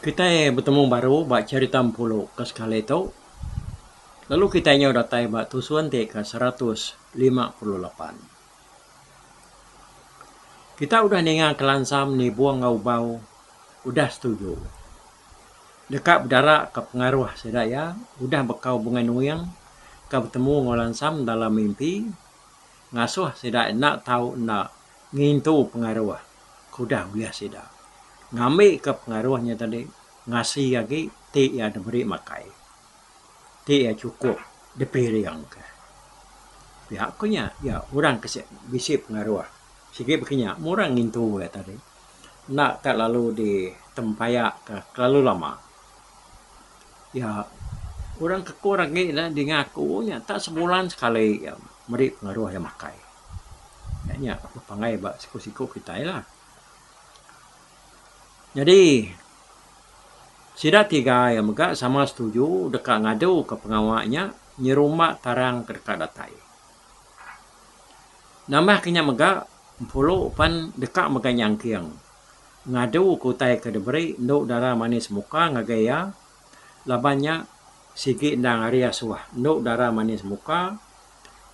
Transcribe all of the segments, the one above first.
Kitai betemu baru ba cherita Empulu ke sekali tu lalu kitai nyau datai ba tusun ti ke seratus lima puluh lapan. Kita udah ninga kelansa menibung enggau ubau udah setuju. Deka bedara ka pengaruh sida iya udah bekau bunga nuing ka betemu enggau lansa dalam mimpi ngasuh sida enda tau enda ngintu pengaruh ke udah ulih sida. Ngambi ka pengaruh nya tadi ngasi agi ti iya diberi makai. ti iya chukup dipiringka. Pia ku nya, iya orang ke sik bisi pengaruh sigi baka nya mung orang ngintu iya tadi enda ka lalu ditempayakka kelalu lama. Iya orang ke ku orang agi ne dinga aku nya tak sebulan sekali iya meri pengaruh iya makai. Nya nya aku panggil ba siku-siku kitai lah. Nyadi. Sida tiga iya mega sama setuju deka ngaduka pengawa nya nyerumba tarang ke deka datai. Nambahka nya mega, Empulu pan deka mega nyangking ngaduka utai ke diberi endu dara manis muka ngagai iya laban nya sigi endang ari asuh endu dara manis muka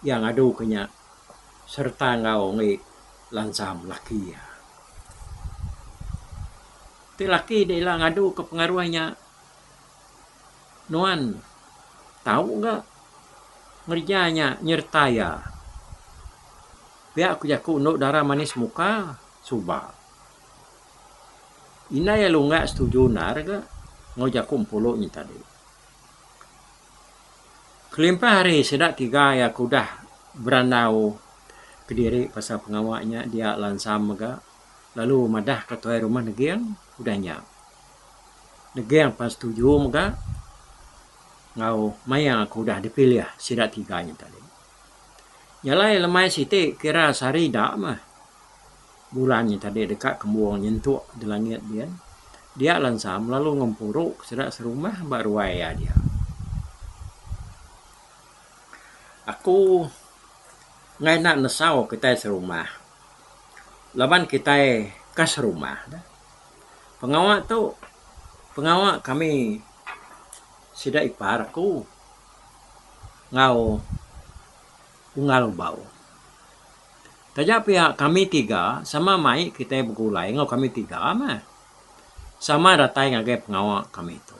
iya ngaduka nya sereta enggau Ongoi Lansam laki iya. Ti laki da ila ngadu ke pengaruh nya nuan tau ga ngereja nya nyereta iya pia ku jaku endu dara manis muka suba. Indai iya lungga setuju endar ga enggau jaku empulu nya tadi. Kelimpah hari sida tiga iya ke udah berandau kediri pasal pengawa nya dia lansa mega. lalu madah ka tuai rumah neging udah nya neging pan setuju mega enggau maya ku udah dipilih sida tiga nya tadi. Nya alai lemai siti kira sehari ida meh bulan nya tadi deka kembung nyentuk di langit din dia lansam lalu ngempuru ke sida serumah ba ruai iya dia. Aku enggai enda nesau kitai serumah. Laban kitai ka serumah ne, pengawa tu pengawa kami sida ipar aku enggau Unggal Ubau. Taja pia kami tiga sama mai kitai begulai enggau kami tiga mah. Sama datai ngagai pengawa kami tu.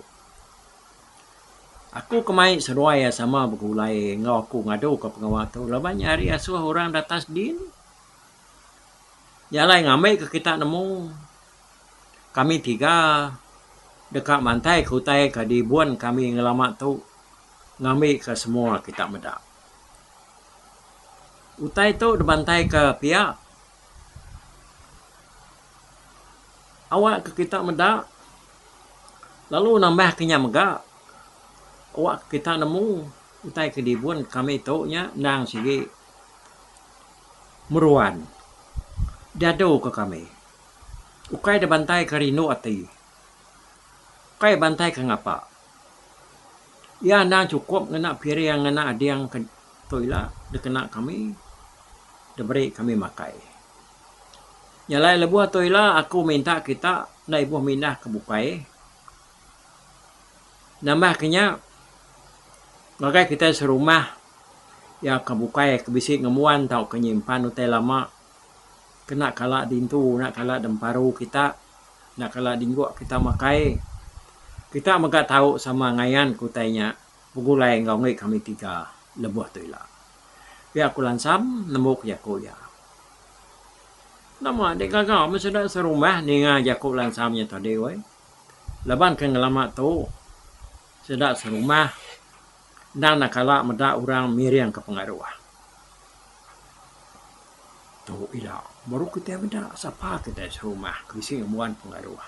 Aku ke mai seduai iya sama begulai enggau aku ngadu ke pengawa tu laban nya hari asuh orang datas din iya alai ngambi ke kita nemu kami tiga deka mantai ke utai ke dibun kami ngelama tu ngambi ke semua kita meda. Utai tu dibantai ke pia awak ke kita meda lalu nambah ke nya mega awak ke kita nemu utai ke dibun kami tu nya endang sigi meruan diadu ke kami ukai dibantai ke rindu ati ukai bantai ke ngapa iya endang chukup ngena piring ngena ading ke tu ila dikena kami diberi kami makai. Jalai lebuh tu ila aku minta kita enda ibuh mindah ke bukai. Nambah ke nya ngagai kitai serumah iya ke bukai ke bisi ngembuan tauka nyimpan utai lama kena kala dintu enda kala demparu kita enda kala dingguk kita makai kita mega tau sama ngayan ke utai nya. Begulai enggau mih kami tiga lebuh tu ila. Pia aku lansam nemu ke jaku iya. Nama enti gaga meh sida serumah ninga jaku lansam iya tadi weh. Laban ke ngelama tu sida serumah enda enda kala meda orang miring ke pengaruh. Tu ila baru kitai meda sapa kitai serumah ke bisi ngembuan pengaruh.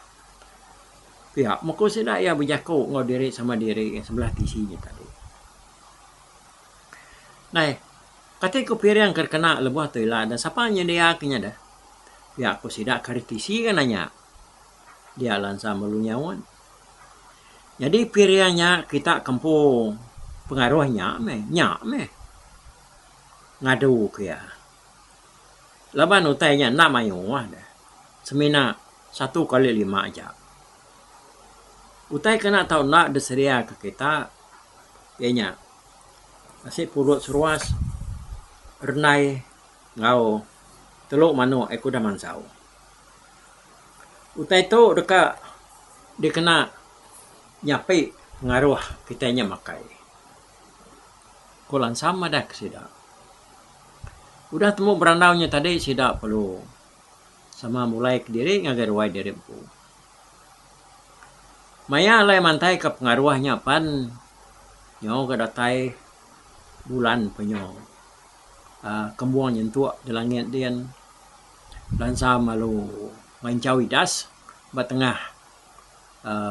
pia meko sida iya bejaku enggau diri sama diri sebelah tisi nya tadi. Nai kati ku piring ke dikena lebuh tu ila deh sapa nyedia ke nya deh. Pia ku sida ke ari tisi ke nanya dia lansa melu nyaut. Nyadi piring nya kita ke empu pengaruh nya meh nya meh ngadu ke iya. Laban utai nya enda mayuh deh. Semina satu kali lima aja. Utai kena tau enda disedia ke kita iya nya nasi pulut seruas, rendai enggau telu manuk ai kudah mansau. Utai tu deka dikena nyapi pengaruh kitai nya makai. Ko lansam madah ke sida. Udah tembu berandau nya tadi sida perlu sama mulai kediri ngagai ruai diri empu. Maya alai mantaika pengaruh nya pan nyau ga datai bulan penyu aaa kembung nyentuk di langit din bansa malu manchau idas ba tengah.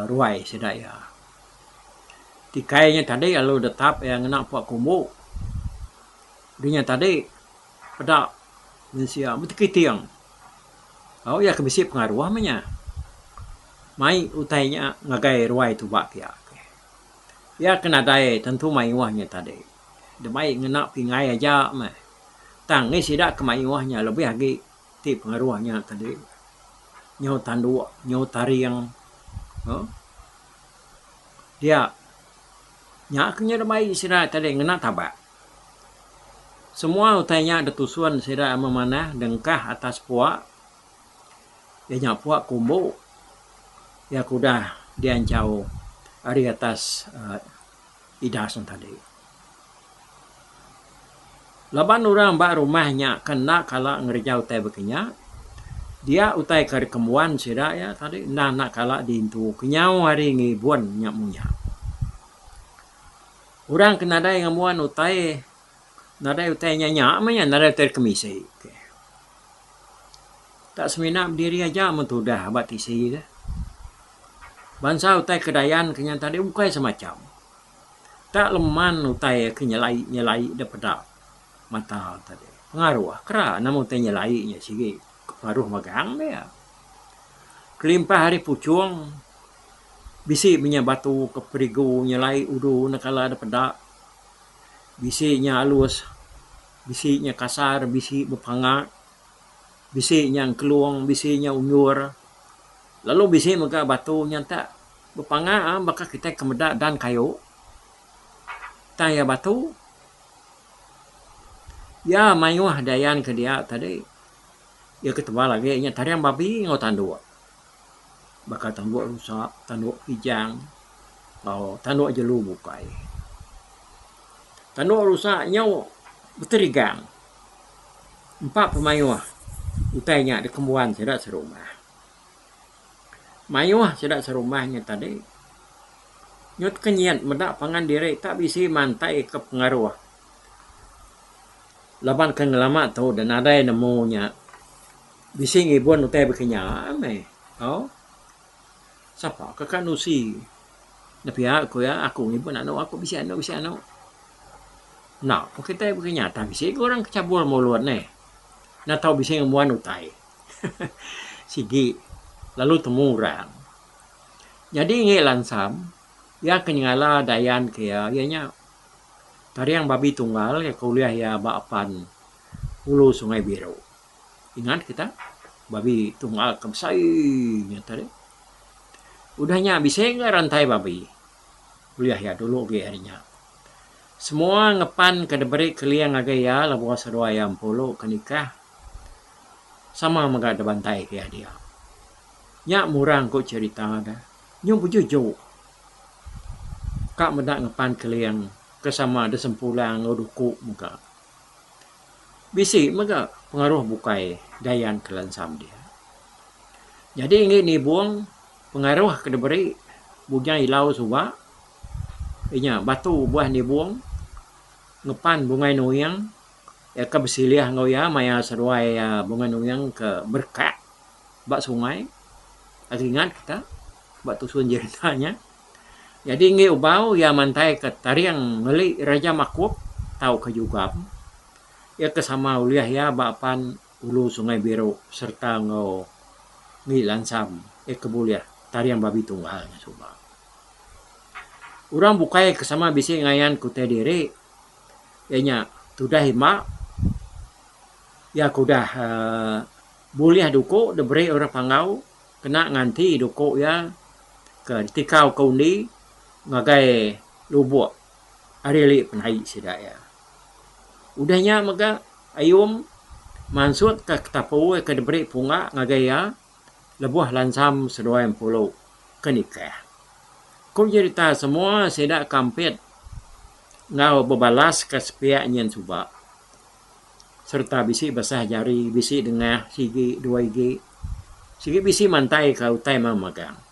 ruai sida iya. Ti kai inya tadi lalu detap iya ngena puak kumbu. Dunya tadi peda mensia meh ti kiting. Tau iya ke bisi pengaruh meh inya. Mai utai inya ngagai ruai tuba pia. Iya ke nadai tentu mayuh inya tadi. Dep mai ngena pingai aja meh. Tang ngei sida ke mayuh inya lebih agi. Ti pengaruh nya tadi nyau tandu nyau taring uhh dia nya ke nya deh baie sida tadi ngena tabak semua utai nya deh tusun sida meh manah deh engkah atas puak iya nya puak ke umbu iya ke udah dianchau ari atas uhh Idas nya tadi. Laban orang ba rumah nya ke enda kala ngereja utai baka nya, dia utai ke dikembuan sida iya tadi enda enda kala diintu kenyau hari ngibun nya munyak. Orang ke nadai ngembuan utai. Nadai utai nya nya meh iya nadai utai kemisi ke. Tak semina bediri aja mun tudah ba tisi deh. Bansa utai Kedayan ke nya tadi ukai semacam. Tak leman utai iya ke nyelai nyelai deh peda mata tadi. Pengaruh kera nama utai nyelai nya sigi paruh megang deh iya. Kelimpah ari puchung bisi meh nya batu ke perigu nyelai udu neka la deh peda. Bisi nya alus, bisi nya kasar, bisi bepanga, bisi nya engkelung, bisi nya undur lalu bisi mega batu nya enta bepanga baka kitai ke meda dan kayu tang iya batu iya mayuh dayan ke dia tadi iya ke tebal agi nya tarian babi enggau tanduk. baka tanduk rusa, tanduk kijang tau tanduk jelu bukai. Tanduk rusa nyau beterigang empa pemayuh utai nya dikembuan sida serumah. Mayuh sida serumah nya tadi nyut kenyit meda pangan diri tak bisi mantai ke pengaruh laban ke ngelama tu nadai nemu nya. Bisi ngibun utai baka nya meh tau. Sapa ke ka nusi nepia ku iya aku ngibun anu aku bisi anu bisi anu. Enda pun kitai baka nya tang bisi ke orang ke cabul mulut eh. Enda tau bisi ngembuan utai. Sigi lalu temu orang. Nyadi ngi lansam iya ke nyengala dayan ke iya iya nya Tariang Babi Tunggal iya ke ulih iya ba apan Hulu Sungai Biru. Ingat ke tang? Babi tu ngaga ke besai nya tadi. Udah nya bisi enggau rantai babi. Ulih iya dulu agi hari nya. Semua ngepan ke diberi keling ngagai iya lebuh seduai iya empulu ke nikah sama mega dibantai ke iya dia. Nya murang ku cerita da. Nyu bejuju ka meda ngepan keling ke sama disempulang enggau duku mega. Bisi mega pengaruh bukai Dayan ke lansang dia. Nyadi enggi nibung pengaruh ke diberi Bujang Ilau suba inya batu uban nibung ngepan Bungai Nuing iya ke besilih enggau iya maya seduai Bungai Nuing ke berkat ba sungai. Ringat kita ba tusun jerita nya. Nyadi enggi Ubau iya mantaika taring meli Raja Makup tauka Jugam iya ke sama ulih iya ba apan Ulu Sungai Biru sereta enggau Ngi Lansam iya ke bulih taring babi tunggal nya suba. Orang bukai ke sama bisi ngayan ke utai diri iya nya Tudah Imba iya ke udah bulih duku diberi orang Panggau. Kena nganti duku iya ke ditikau ke undi ngagai lubok ari ali penai sida iya. Udah nya mega Ayum mansutka ketapu ke diberi Punga ngagai iya lebuh lansam seduai empulu ke nikah. Ku jerita semua sida ke ampit enggau bebalaska sepiak nyin suba sereta bisi besah jari, bisi dengah sigi dua igi. Sigi bisi mantaika utai meh magang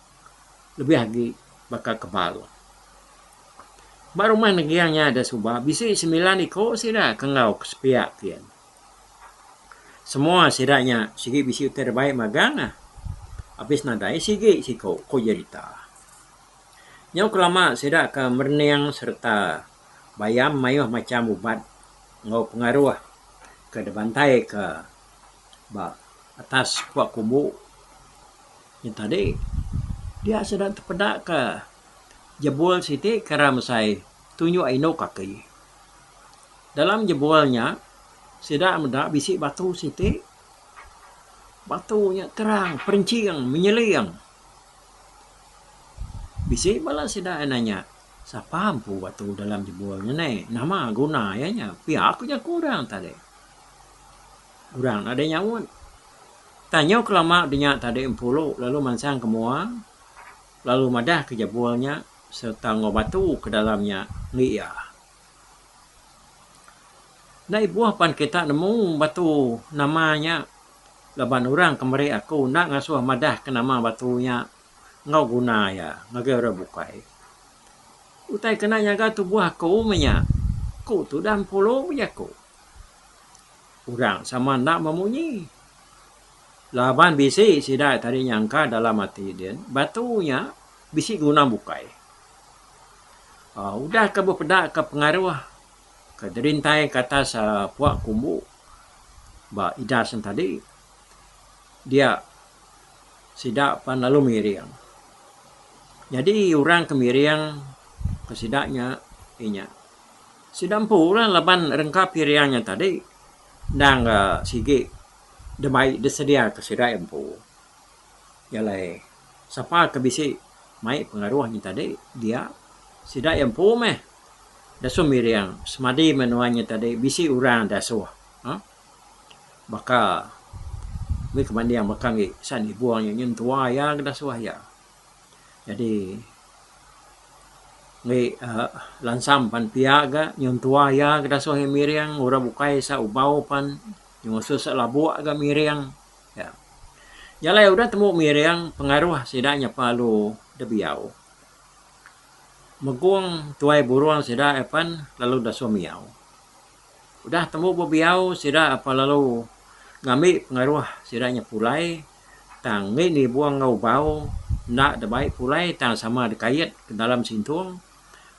lebih agi baka kebal. Ba rumah nenggiang nya da suba bisi semilan iko sida ke enggau ke sepia kiye. Semua sida nya sigi bisi utai da bai magang ah abis nadai sigi siko, ku jerita. Nyau kelama sida ke merening sereta. Bayam mayuh macham ubat enggau pengaruh ke dibantaika ba atas pua kumbu. Nya tadi dia sida tepeda ke jebul siti kira mesai tunjuk indu kaki. Dalam jebul nya sida meda bisi batu siti. Batu nya terang perinching menyeling. Bisi bala sida nanya. Sapa empu batu dalam jebul nya neh? Nama guna iya nya? Pia ku jaku orang tadi. Orang enda deh nyaut. Tanyo kelama denya tadi empu lu lalu mansang ke mua lalu madah ke jebul nya serta enggau batu ke dalam nya enggi iya. Enda ibuh pan kita nemu batu nama nya laban orang ke meri aku enda ngasuh madah ke nama batu nya. enggau guna iya ngagai orang bukai. Utai kena nyaga tubuh aku meh nya. Ku Tudah Empulu bejaku. Orang sama enda memunyi. Laban bisi sida tadi nyangka dalam ati din, batu nya bisi guna bukai. Aaa udah ke bepedaka pengaruh ke dirintai ke atas aaa puak kumbu ba idas nya tadi dia. sida pan lalu mengiring. Nyadi orang ke mengiring ke sida nya inya. Sida empulah laban rengkap iring nya tadi endang ga sigi demai disedia ke sida iya empu. Nya alai sapa ke bisi mai pengaruh nya tadi dia sida iya empu meh disuh mengiring semadi menua nya tadi bisi orang disuh. baka mih ke manding baka ngi sa'an ibuh nya nyin tuwa iya ke nasuh iya. Jadi mih uhh lansam pan pia ga nyun tuwa iya ke nasuh iya miring orang bukai sa ubau pan ngesu sa labu ga miring iya. Jalai udah tembu miring pengaruh sida nyapa lalu dibiau. Megong tuai burung sida iya pan lalu disuh miau. Udah tembu bebiau sida apai lalu ngambi pengaruh sida nya pulai tang mih nibung enggau ubau enda dibai pulai tang sama dikait dalam sintung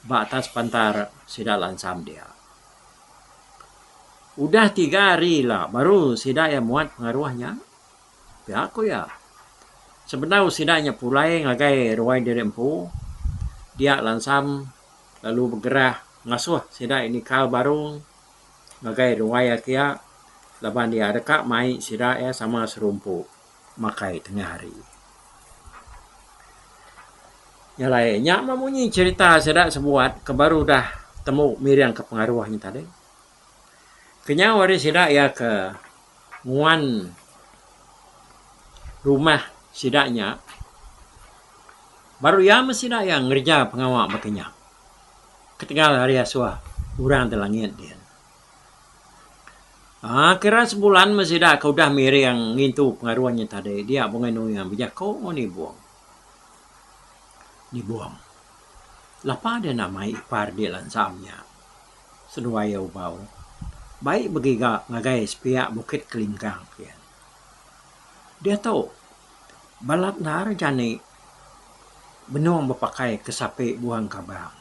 ba atas pantar sida lansam dia. Udah tiga hari ila baru sida iya muat pengaruh nya pia ku iya. Sebedau sida nya pulai ngagai ruai diri empu dia lansam lalu begerah Ngasuh sida nikal baru ngagai ruai iya kia laban iya deka mai sida iya sama serumpu makai tengah hari. Nya alai nya meh munyi cherita sida sebuat ke baru udah temu miring ke pengaruh nya tadi. Kenyau ari sida iya ke nguan rumah sida nya baru iya meh sida iya ngereja pengawa baka nya ketegal ari asuh orang ti langit din. Aaa kira sebulan meh sida ke udah miring ngintu pengaruh nya tadi dia bungai nuing bejaku enggau nibung. Nibung lapa dia enda mai ipar dia lansam nya. Seduai iya ubau bai begiga ngagai sepiak Bukit Kelinggang pia. Diatu, balat endar jani benung bepakai ke sapi buang kabang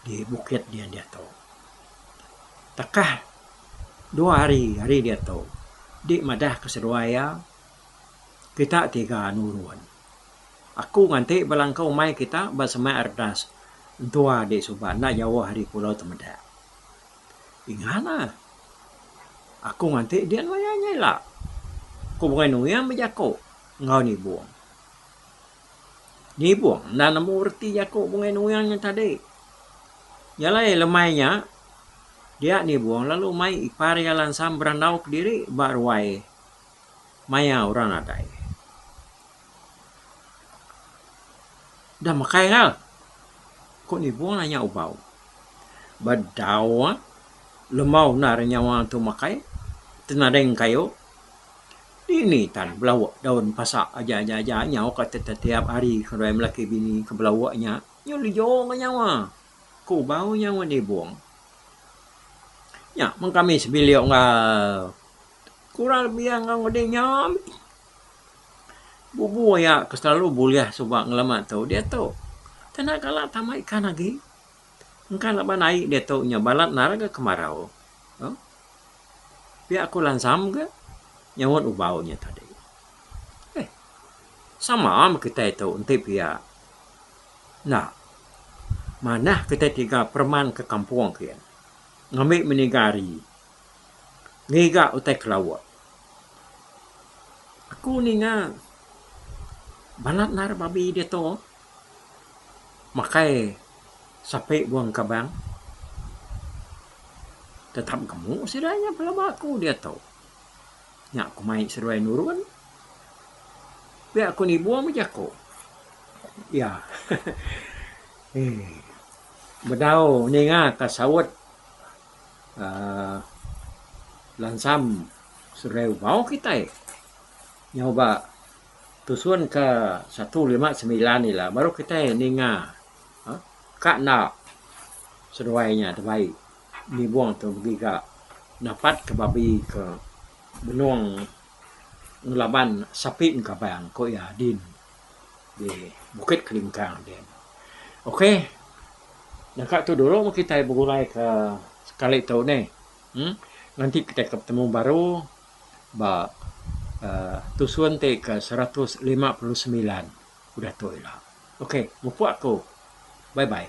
di bukit nya diatu. Takah dua hari ari diatu, di madah ke seduai iya, kita tiga nurun. Aku nganti belangka umai kita ba semak Ardas entua di suba enda jauh ari Pulau Temedak. Ingatlah. Aku nganti din maya nya ila. Ku Bungai Nuyang bejako enggau Nibong. Nibong enda nemu reti jako Bungai Nuyang nya tadi. Jalai lemai nya dia Nibong lalu mai ipar iya lansang berandau kediri ba ruai. maya orang nadai. Udah makai gal. Ko nibung nanya ubau. Ba dau ah lembau enda ari nyawa tu makai tenadeng kayu dini tan belauk daun pasa aja aja aja nyau ka tetiap hari kedai lelaki bini ke belauk nya nyu lijo ka nyawa. Ko ubau nya ngan nibung. Nya men kami sebilik enggau Kural biang enggau ngundi nya bubu iya ke selalu bulih suba ngelama tu diatu kena kala tama ikan agi engka laban ai diatu nya balat nara ga kemarau um pia ku lansam ga nyaunt ubau nya tadi eh sama meh kitai tu enti pia enda manah kitai tiga pereman ke kampung ke ngambi meniga hari. ngiga utai kelawa. Aku ninga bala nara babi diatu makai sapi wang kabang tetap gamu sida nya pelaba aku diatu. Nya ku mai seduai nurun pia ku nibung meh jaku iya eeh bedau ninga ka saut. uhh lansam serai umbau kitai nyau ba tusun ka satu lima semilan ila baru kitai ninga uhh ka enda seduai inya da bai nibung tu begiga napat ka babi ka benung ngelaban sapi engkabang ku iya din. di Bukit Kelingkang ti. Ok, deka tu dulu meh kitai begulai ke sekali tu nih. Em nganti kitai ke betemu baru ba aaa tusun ti ke seratus lima puluh semilan udah tu ila. Ok, mupuk aku. Bye bye.